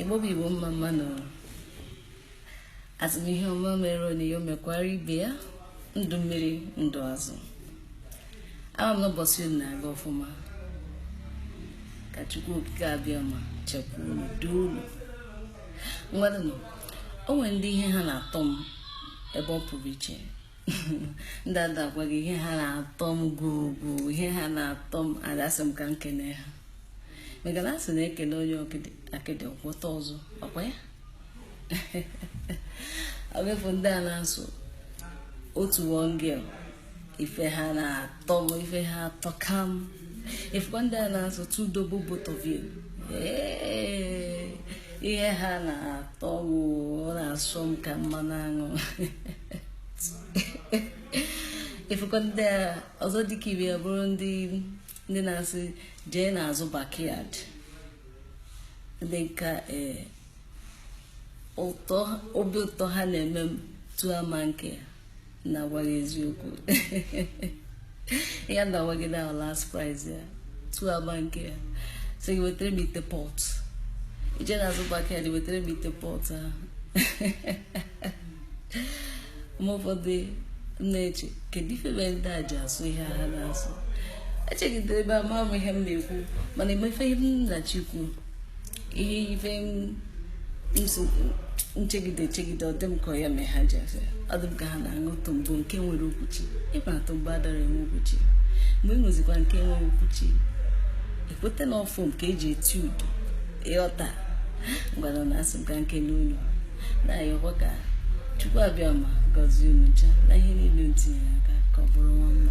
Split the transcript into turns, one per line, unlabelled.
Igbo bụ Igbo mma mma nụ asị m ihe ọma mere onye ya mekwara ibe ya ndụ mmiri ndụ azụ ama m n'ụbọchị unu na-aga ọfụma ka Chukwu okike abịama chekwaa unu duo unu ngwanụ o nwere ndị ihe ha na-atọ m ebe ọ pụrụ iche ndị ada gwa gị ihe ha na-atọ m gwugwu ihe ha na-atọ m adasị m ka m kene ha maka na asị na e kelee onye akịdị ọ gwọta ọzọ ọ kwa ya ọ bụ ị fụ ndị a na-asụ otu one girl ife ha na-atọ m ife ha atọka m ị fụkwa ndị a na-asụ two double both of you ihe ha na-atọ m ọ na-asọ m ka mmanụ aṅụ ị fụkwa ndị a ọzọ dịka ibe ya bụrụ ndị ndị na-asị jee n'azụ backyard ndị nka ee eh, ụtọ obi ụtọ ha na-eme m tụọ ama nke na-agwa gị eziokwu ya na-agwa gị na last price ya tụọ ama nke ya sị gị wetara m ite pot jee n'azụ backyard wetara m ite pot ahụ ma ụfọdụ na-eche kedu ife mere ndị a ji asụ ihe ha na-asụ echegidere ebe ama m ihe m na-ekwu mana emefe ihe m na-echekwu ihe ife m chegide chegide ọ dị m ka ya mee ha ji asụ ya ọ dị m ka ha na-aṅụ tombo nke nwere okwuchi ị ma na tombo adara enwe okwuchi mgbe ị ṅụzikwa nke nwere okwuchi ị kweta na ọfọm ka eji eti udo ị ghọta ngwanụ na asị m ka m kele unu na-ayọkwa ka Chukwu abịama gọzie unu ncha na ihe niile unu tinye aka ka ọ bụrụ mma mma